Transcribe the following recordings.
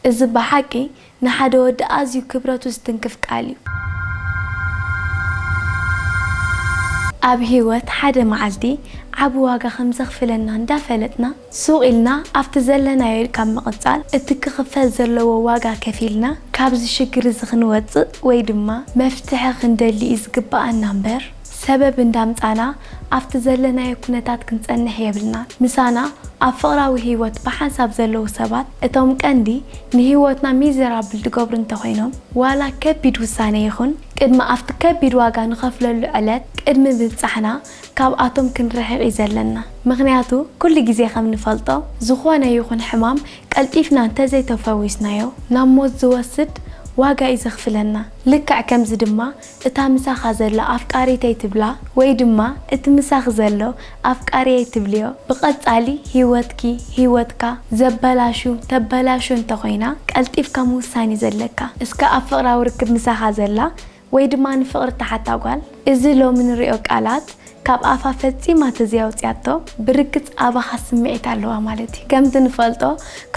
እዚ ብሓቂ ንሓደ ወዲ ኣዝዩ ክብረቱ ዝትንክፍ ቃል እዩ። ኣብ ህይወት ሓደ መዓልቲ ዓቢ ዋጋ ከም ዘኽፍለና እንዳ ፈለጥና ሱቕ ኢልና ኣብቲ ዘለናዮ ካብ ምቕጻል እቲ ክኽፈል ዘለዎ ዋጋ ከፊልና ካብዚ ሽግር እዚ ክንወጽእ ወይ ድማ መፍትሒ ክንደሊ እዩ ዝግብኣና እምበር ሰበብ እንዳምጻና ኣብቲ ዘለናዮ ኩነታት ክንጸንሕ የብልናን። ምሳና ኣብ ፍቕራዊ ህይወት ብሓንሳብ ዘለዉ ሰባት እቶም ቀንዲ ንህይወትና ሚዘራብል ድገብሩ እንተኾይኖም ዋላ ከቢድ ውሳነ ይኹን ቅድሚ ኣብቲ ከቢድ ዋጋ ንኸፍለሉ ዕለት ቅድሚ ምብጻሕና ካብኣቶም ክንርሕቕ እዩ ዘለና ምኽንያቱ ኩሉ ግዜ ከም ንፈልጦ ዝኾነ ይኹን ሕማም ቀልጢፍና እንተዘይተፈዊስናዮ ናብ ሞት ዝወስድ ዋጋ እዩ ዘኽፍለና ልክዕ ከምዚ ድማ እታ ምሳኻ ዘላ ኣፍቃሪተይ ትብላ ወይ ድማ እቲ ምሳኺ ዘሎ ኣፍቃሪየይ ትብልዮ ብቐጻሊ ሂወትኪ፣ ሂወትካ፣ ዘበላሹ፣ ተበላሹ፣ እንተኾይና ቀልጢፍካ ምውሳን እዩ ዘለካ። እስከ ኣብ ፍቕራዊ ርክብ ምሳኻ ዘላ ወይ ድማ ንፍቕሪ እትሓታ ጓል እዚ ሎሚ ንሪኦ ቃላት ካብ ኣፋ ፈጺማ ተዘይኣውጺኣቶ ብርግጽ ኣባኻ ስምዒት ኣለዋ ማለት እዩ። ከምቲ ንፈልጦ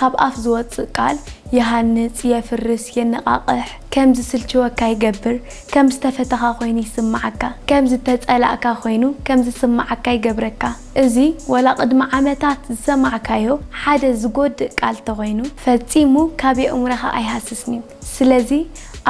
ካብ ኣፍ ዝወጽእ ቃል ይሃንጽ፣ የፍርስ፣ የነቓቕሕ፣ ከም ዝስልችወካ ይገብር፣ ከም ዝተፈተኻ ኮይኑ ይስምዓካ፣ ከም ዝተጸላእካ ኮይኑ ከም ዝስምዓካ ይገብረካ። እዚ ወላ ቅድሚ ዓመታት ዝሰማዕካዮ ሓደ ዝጎድእ ቃል ተኾይኑ ፈጺሙ ካብ የእሙረኻ ኣይሃስስን'ዩ። ስለዚ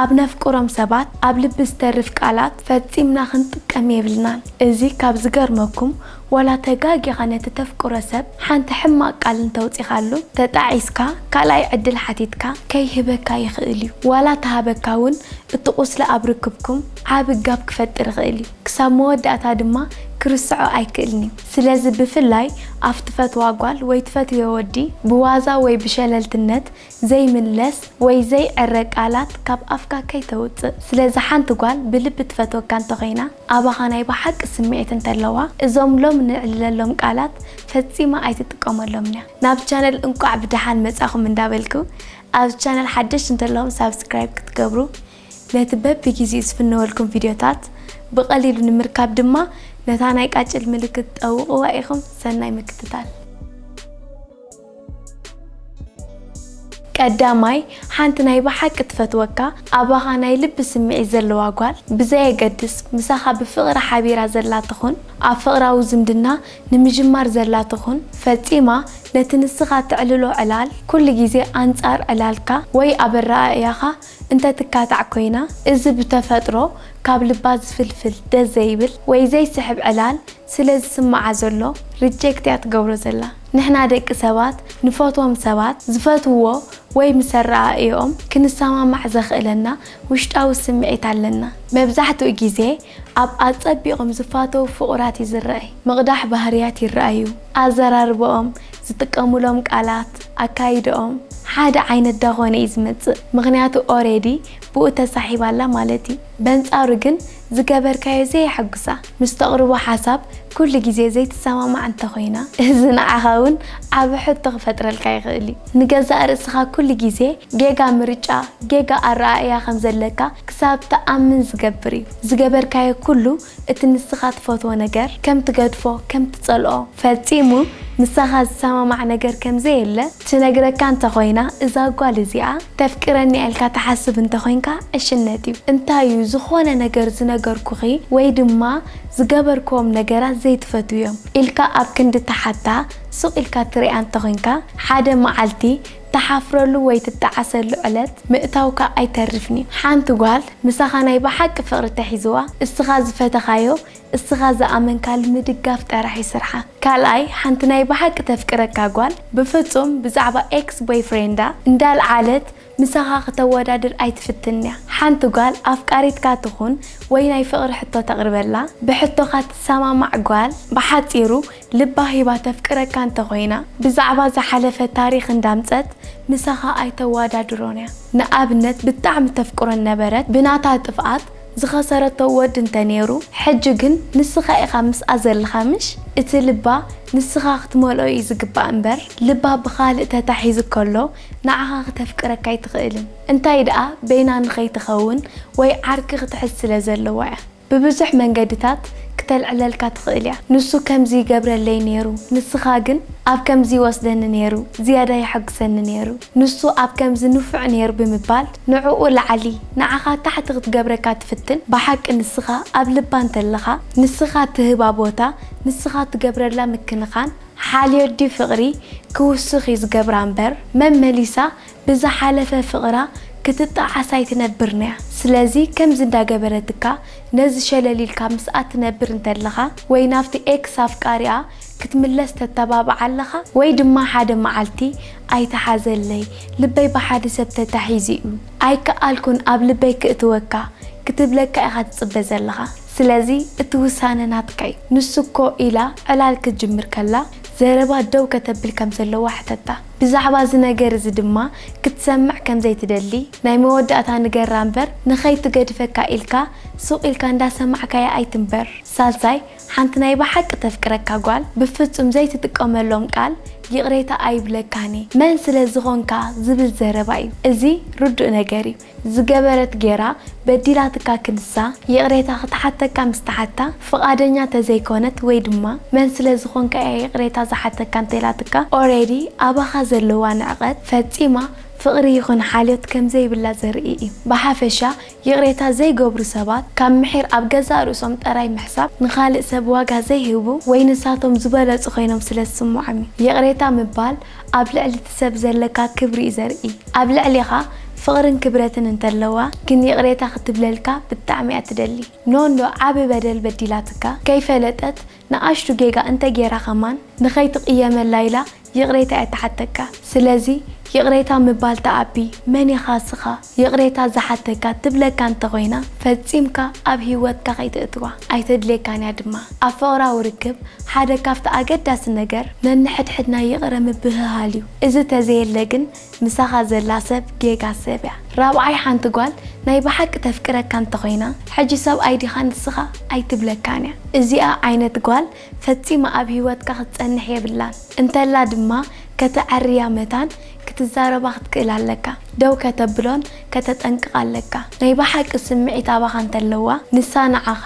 ኣብ ነፍቅሮም ሰባት ኣብ ልቢ ዝተርፍ ቃላት ፈጺምና ክንጥቀም የብልናን። እዚ ካብ ዝገርመኩም ዋላ ተጋጊኻ ነቲ ተፍቅሮ ሰብ ሓንቲ ሕማቕ ቃል እንተውጺኻሉ ተጣዒስካ ካልኣይ ዕድል ሓቲትካ ከይህበካ ይኽእል እዩ። ዋላ ተሃበካ ውን እቲ ቁስሊ ኣብ ርክብኩም ዓቢ ጋብ ክፈጥር ይኽእል እዩ። ክሳብ መወዳእታ ድማ ክርስዖ ኣይክእልን እዩ። ስለዚ ብፍላይ ኣብ ትፈትዋ ጓል ወይ ትፈትውዮ ወዲ ብዋዛ ወይ ብሸለልትነት ዘይምለስ ወይ ዘይዕረ ቃላት ካብ ኣፍካ ከይተውጽእ ስለዚ ሓንቲ ጓል ብልቢ ትፈትወካ እንተኾይና ኣባኻ ናይ ብሓቂ ስምዒት እንተለዋ እዞም ሎም ንዕልለሎም ቃላት ፈጺማ ኣይትጥቀመሎምንያ ናብ ቻነል እንቋዕ ብደሓን መጻኹም እንዳበልኩ ኣብዚ ቻነል ሓደሽቲ እንተለኹም ሳብስክራይብ ክትገብሩ ነቲ በብጊዜኡ ዝፍነወልኩም ቪድዮታት ብቐሊሉ ንምርካብ ድማ ነታ ናይ ቃጭል ምልክት ጠውቕዋ ኢኹም ሰናይ ምክትታል። ቀዳማይ፣ ሓንቲ ናይ ብሓቂ ትፈትወካ፣ ኣባኻ ናይ ልቢ ስምዒት ዘለዋ ጓል፣ ብዘየገድስ ምሳኻ ብፍቕሪ ሓቢራ ዘላ ትኹን፣ ኣብ ፍቕራዊ ዝምድና ንምጅማር ዘላ ትኹን፣ ፈጺማ ነቲ ንስኻ ተዕልሎ ዕላል፣ ኩሉ ግዜ ኣንጻር ዕላልካ ወይ ኣብ ኣረኣእያኻ እንተ ትካታዕ ኮይና፣ እዚ ብተፈጥሮ ካብ ልባ ዝፍልፍል ደስ ዘይብል ወይ ዘይስሕብ ዕላል ስለ ዝስምዓ ዘሎ ርጀክት እያ ትገብሮ ዘላ ንሕና ደቂ ሰባት ንፈትዎም ሰባት ዝፈትውዎ ወይ ምስ ኣረኣእየኦም ክንሰማማዕ ዘኽእለና ውሽጣዊ ስምዒት ኣለና መብዛሕትኡ ግዜ ኣብ ኣጸቢቆም ዝፋተዉ ፍቁራት እዩ ዝረኣይ ምቅዳሕ ባህርያት ይረኣዩ ኣዘራርበኦም ዝጥቀሙሎም ቃላት ኣካይደኦም ሓደ ዓይነት ዳኾነ እዩ ዝመጽእ ምኽንያቱ ኦሬዲ ብኡ ተሳሒባ ኣላ ማለት እዩ በንጻሩ ግን ዝገበርካዮ ዘየሐጉሳ ምስ ተቕርቦ ሓሳብ ኩሉ ግዜ ዘይትሰማማዕ እንተኾይና እዚ ንዓኻ እውን ዓቢ ሕቶ ክፈጥረልካ ይኽእል እዩ። ንገዛእ ርእስኻ ኩሉ ግዜ ጌጋ ምርጫ፣ ጌጋ ኣረኣእያ ከም ዘለካ ክሳብ ትኣምን ዝገብር እዩ። ዝገበርካዮ ኩሉ እቲ ንስኻ ትፈትዎ ነገር ከም ትገድፎ፣ ከም ትጸልኦ፣ ፈጺሙ ምሳኻ ዝሰማማዕ ነገር ከም ዘየለ ትነግረካ እንተ ኾይና እዛ ጓል እዚኣ ተፍቅረኒ'ያ ኢልካ ትሓስብ እንተ ኾይንካ ዕሽነት'ዩ። እንታይ'ዩ ዝኾነ ነገር ዝነገርኩኺ ወይ ድማ ዝገበርክዎም ነገራት ዘይትፈትውዮም? ኢልካ ኣብ ክንዲ ትሓታ ሱቕ ኢልካ ትሪኣ እንተ ኾይንካ ሓደ መዓልቲ ትሓፍረሉ ወይ ትጠዓሰሉ ዕለት ምእታውካ ኣይተርፍን'ዩ። ሓንቲ ጓል ምሳኻ ናይ ብሓቂ ፍቕሪ ተሒዝዋ እስኻ ዝፈተኻዮ እስኻ ዝኣመንካል ምድጋፍ ጠራሕ ዩ ስርሓ። ካልኣይ ሓንቲ ናይ ብሓቂ ተፍቅረካ ጓል ብፍጹም ብዛዕባ ኤክስ ቦይፍሬንዳ እንዳልዓለት ምሳኻ ክተወዳድር ኣይትፍትንያ። ሓንቲ ጓል ኣፍቃሪትካ ትኹን ወይ ናይ ፍቕሪ ሕቶ ተቕርበላ ብሕቶኻ ትሰማማዕ ጓል ብሓጺሩ ልባ ሂባ ተፍቅረካ እንተኾይና ብዛዕባ ዝሓለፈ ታሪኽ እንዳምጸት ምሳኻ ኣይተዋዳድሮንያ። ንኣብነት ብጣዕሚ ተፍቅሮ እነበረት ብናታ ጥፍኣት ዝኸሰረቶ ወድ እንተ ኔሩ ሕጂ ግን ንስኻ ኢኻ ምስኣ ዘለኻ ምሽ እቲ ልባ ንስኻ ክትመልኦ እዩ ዝግባእ እምበር ልባ ብኻልእ ተታሒዙ ከሎ ንዓኻ ክተፍቅረካ ኣይትኽእልን እንታይ ድኣ በይና ንኸይትኸውን ወይ ዓርኪ ክትሕዝ ስለ ዘለዋ እያ ብብዙሕ መንገድታት ክተልዕለልካ ትኽእል እያ ንሱ ከምዚ ይገብረለይ ኔሩ ንስኻ ግን ኣብ ከምዚ ይወስደኒ ኔሩ ዝያዳ የሐጉሰኒ ኔሩ ንሱ ኣብ ከምዚ ንፉዕ ነይሩ ብምባል ንዕኡ ላዕሊ ንዓኻ ታሕቲ ክትገብረካ ትፍትን ብሓቂ ንስኻ ኣብ ልባ እንተለኻ ንስኻ ትህባ ቦታ ንስኻ ትገብረላ ምክንኻን ሓልዮዲ ፍቕሪ ክውስኽ እዩ ዝገብራ እምበር መመሊሳ ብዝሓለፈ ፍቕራ ክትጣዓስ ኣይትነብርንያ ስለዚ ከምዚ እንዳገበረትካ ነዚ ሸለል ኢልካ ምስኣ ትነብር እንተለኻ ወይ ናብቲ ኤክስ ኣፍቃሪኣ ክትምለስ ተተባብዓ ኣለኻ ወይ ድማ ሓደ መዓልቲ ኣይትሓዘለይ ልበይ ብሓደ ሰብ ተታሒዙ'ዩ ኣይከኣልኩን ኣብ ልበይ ክእትወካ ክትብለካ ኢኻ ትጽበ ዘለኻ ስለዚ እቲ ውሳነ ናትካ'ዩ ንሱ'ኮ ኢላ ዕላል ክትጅምር ከላ ዘረባ ደው ከተብል ከም ዘለዋ ሕተታ ብዛዕባ እዚ ነገር እዚ ድማ ክትሰምዕ ከም ዘይትደሊ ናይ መወዳእታ ንገራ እምበር ንኸይትገድፈካ ኢልካ ሱቕ ኢልካ እንዳሰማዕካያ ኣይትንበር ሳልሳይ ሓንቲ ናይ ብሓቂ ተፍቅረካ ጓል ብፍጹም ዘይትጥቀመሎም ቃል ይቅሬታ ኣይብለካን እየ መን ስለ ዝኮንካ ዝብል ዘረባ እዩ እዚ ርዱእ ነገር እዩ ዝገበረት ጌራ በዲላትካ ክንሳ ይቅሬታ ክትሓተካ ምስ ተሓታ ፍቃደኛ ተዘይኮነት ወይ ድማ መን ስለ ዝኮንካ እያ ይቅሬታ ዝሓተካ እንተኢላትካ ኦሬዲ ኣባካ ዘለዋ ንዕቀት ፈጺማ ፍቅሪ ይኩን ሓልዮት ከምዘይብላ ዘርኢ እዩ ብሓፈሻ ይቕሬታ ዘይገብሩ ሰባት፣ ካብ ምሒር ኣብ ገዛእ ርእሶም ጠራይ ምሕሳብ፣ ንኻልእ ሰብ ዋጋ ዘይህቡ ወይ ንሳቶም ዝበለጹ ኮይኖም ስለ ዝስምዖም እዩ። ይቕሬታ ምባል ኣብ ልዕሊ እቲ ሰብ ዘለካ ክብሪ እዩ ዘርኢ። ኣብ ልዕሌኻ ፍቕርን ክብረትን እንተለዋ ግን ይቕሬታ ክትብለልካ ብጣዕሚ እያ ትደሊ። ኖኖ ዓቢ በደል በዲላትካ፣ ከይፈለጠት፣ ንኣሽቱ ጌጋ እንተ ጌራ ከማን ንኸይትቅየመላ ኢላ ይቅሬታ እያ ትሓተካ ስለዚ ይቅሬታ ምባል ተኣቢ መን ኢኻ እስኻ ይቅሬታ ዝሓተካ ትብለካ እንተ ኮይና ፈጺምካ ኣብ ሂወትካ ከይተእትዋ ኣይተድልየካን እያ ድማ ኣብ ፍቅራዊ ርክብ ሓደ ካብቲ ኣገዳሲ ነገር ነንሕድሕድና ይቅረ ምብህሃል እዩ እዚ ተዘየለ ግን ምሳኻ ዘላ ሰብ ጌጋ ሰብ እያ ራብዓይ ሓንቲ ጓል ናይ ብሓቂ ተፍቅረካ እንተኾይና ሕጂ ሰብኣይ ዲኻ ንስኻ ኣይትብለካን እያ እዚኣ ዓይነት ጓል ፈጺማ ኣብ ሂወትካ ክትጸንሕ የብላን እንተላ ድማ ከተዐርያ መታን ክትዛረባ ክትክእል ኣለካ ደው ከተብሎን ከተጠንቅቃ ኣለካ ናይ ብሓቂ ስምዒት ኣባኻ እንተለዋ ንሳ ንዓኻ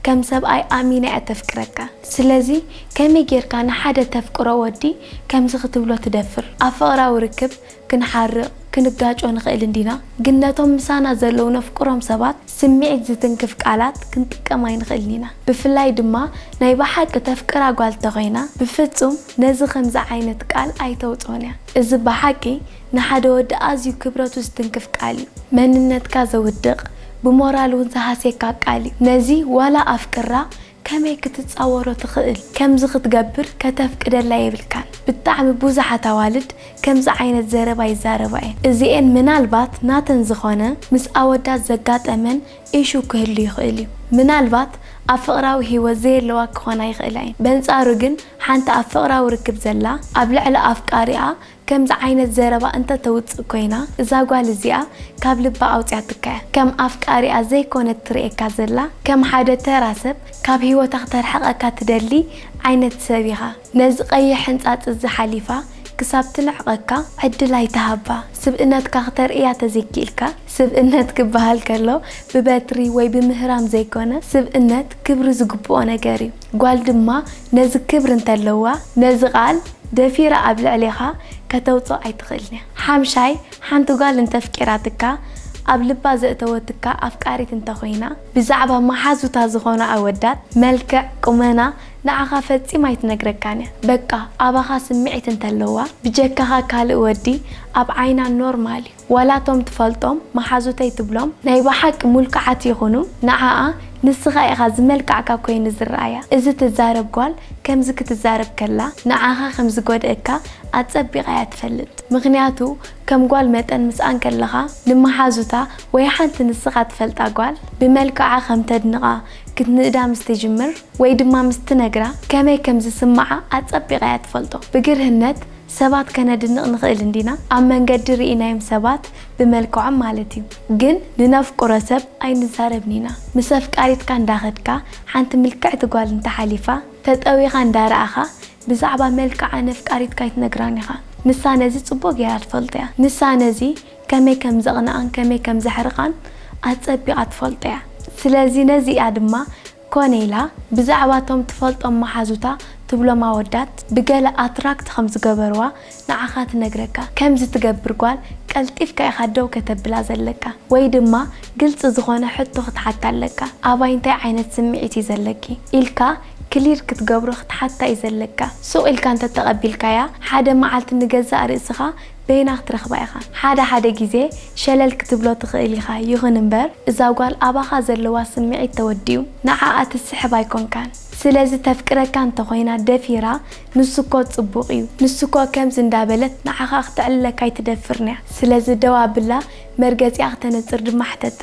ከም ሰብኣይ ኣሚና እያ ተፍቅረካ ስለዚ ከመይ ጌርካ ንሓደ ተፍቅሮ ወዲ ከምዚ ክትብሎ ትደፍር? ኣብ ፍቕራዊ ርክብ ክንሓርቕ፣ ክንጋጮ ንኽእል እንዲና፣ ግን ነቶም ምሳና ዘለዉ ነፍቅሮም ሰባት ስምዒት ዝትንክፍ ቃላት ክንጥቀም ኣይንኽእልን ኢና። ብፍላይ ድማ ናይ ብሓቂ ተፍቅራ ጓል እንተኾይና ብፍጹም ነዚ ከምዚ ዓይነት ቃል ኣይተውጽኦን እያ። እዚ ብሓቂ ንሓደ ወዲ ኣዝዩ ክብረቱ ዝትንክፍ ቃል እዩ። መንነትካ ዘውድቕ፣ ብሞራል እውን ዝሃስየካ ቃል እዩ። ነዚ ዋላ ኣፍቅራ ከመይ ክትጻወሮ ትኽእል ከምዚ ክትገብር ከተፍቅደላ የብልካን ብጣዕሚ ቡዙሓት ኣዋልድ ከምዚ ዓይነት ዘረባ ይዛረባ እየን እዚኤን ምናልባት ናተን ዝኾነ ምስ ኣወዳት ዘጋጠመን ኢሹ ክህሉ ይኽእል እዩ ምናልባት ኣብ ፍቅራዊ ሂወት ዘየለዋ ክኾና ይኽእላ እየን በንጻሩ ግን ሓንቲ ኣብ ፍቅራዊ ርክብ ዘላ ኣብ ልዕሊ ኣፍቃሪኣ ከምዚ ዓይነት ዘረባ እንተ ተውጽእ ኮይና እዛ ጓል እዚኣ ካብ ልባ ኣውጽያትካ እያ ከም ኣፍቃሪኣ ዘይኮነት ትርእየካ ዘላ ከም ሓደ ተራ ሰብ ካብ ሂወታ ክተርሕቀካ ትደሊ ዓይነት ሰብ ኢኻ ነዚ ቀይሕ ሕንጻጽ እዚ ሓሊፋ ክሳብ ትንዕቀካ ዕድል ኣይትሃባ ስብእነትካ ክተርእያ ተዘይኪኢልካ ስብእነት ክበሃል ከሎ ብበትሪ ወይ ብምህራም ዘይኮነ ስብእነት ክብሪ ዝግብኦ ነገር እዩ ጓል ድማ ነዚ ክብሪ እንተለዋ ነዚ ቃል ደፊራ ኣብ ልዕሌኻ ከተውጽኦ ኣይትኽእልን እያ። ሓምሻይ፣ ሓንቲ ጓል እንተፍቂራትካ፣ ኣብ ልባ ዘእተወትካ ኣፍቃሪት እንተኾይና፣ ብዛዕባ መሓዙታ ዝኾኑ ኣወዳት፣ መልክዕ፣ ቁመና፣ ንዓኻ ፈጺማ ኣይትነግረካን እያ። በቃ ኣባኻ ስምዒት እንተለዋ፣ ብጀካኻ ካልእ ወዲ ኣብ ዓይና ኖርማል እዩ። ዋላ እቶም ትፈልጦም መሓዙተይ ትብሎም ናይ በሓቂ ሙልኩዓት ይኹኑ ንዓኣ ንስኻ ኢኻ ዝመልካዕካ ኮይኑ ዝረኣያ እዚ ትዛረብ ጓል ከምዚ ክትዛረብ ከላ ንዓኻ ከም ዝጎድእካ ኣጸቢቃ እያ ትፈልጥ ምኽንያቱ ከም ጓል መጠን ምስኣን ከለኻ ንመሓዙታ ወይ ሓንቲ ንስኻ ትፈልጣ ጓል ብመልክዓ ከም ተድንቃ ክትንእዳ ምስ ትጅምር ወይ ድማ ምስ ትነግራ ከመይ ከም ዝስምዓ ኣጸቢቃ እያ ትፈልጦ ብግርህነት ሰባት ከነድንቕ ንኽእል እንዲና ኣብ መንገዲ ርኢናዮም ሰባት ብመልክዖም ማለት እዩ ግን ንነፍቅሮ ሰብ ኣይንዛረብን ኢና ምስ ኣፍቃሪትካ እንዳኸድካ ሓንቲ ምልክዕቲ ጓል እንተሓሊፋ ተጠዊኻ እንዳረኣኻ ብዛዕባ መልክዓ ነፍቃሪትካ ኣይትነግራን ኢኻ ንሳ ነዚ ጽቡቕ ጌራ ትፈልጦ እያ ንሳ ነዚ ከመይ ከም ዘቕንኣን ከመይ ከም ዘሕርቓን ኣጸቢቓ ትፈልጦ እያ ስለዚ ነዚ እያ ድማ ኮነ ኢላ ብዛዕባ እቶም ትፈልጦም መሓዙታ ትብሎም ኣወዳት ብገለ ኣትራክት ከም ዝገበርዋ ንዓኻ ትነግረካ። ከምዚ ትገብር ጓል ቀልጢፍካ ኢኻ ደው ከተብላ ዘለካ ወይ ድማ ግልጺ ዝኾነ ሕቶ ክትሓታ ኣለካ፣ ኣባይ እንታይ ዓይነት ስምዒት እዩ ዘለኪ? ኢልካ ክሊር ክትገብሮ ክትሓታ እዩ ዘለካ። ሱቕ ኢልካ እንተተቐቢልካያ ሓደ መዓልቲ ንገዛእ ርእስኻ በይና ክትረኽባ ኢኻ። ሓደ ሓደ ግዜ ሸለል ክትብሎ ትኽእል ኢኻ ይኹን እምበር እዛ ጓል ኣባኻ ዘለዋ ስምዒት ተወዲኡ ንዓኣ ትስሕብ ኣይኮንካን ስለዚ ተፍቅረካ እንተኾይና ደፊራ ንሱ እኮ ጽቡቕ እዩ ንሱ እኮ ከምዚ እንዳበለት ንዓኻ ክተዕልለካ ኣይትደፍርንያ ስለዚ ደው ኣብላ መርገጺኣ ክተነጽር ድማ ሕተታ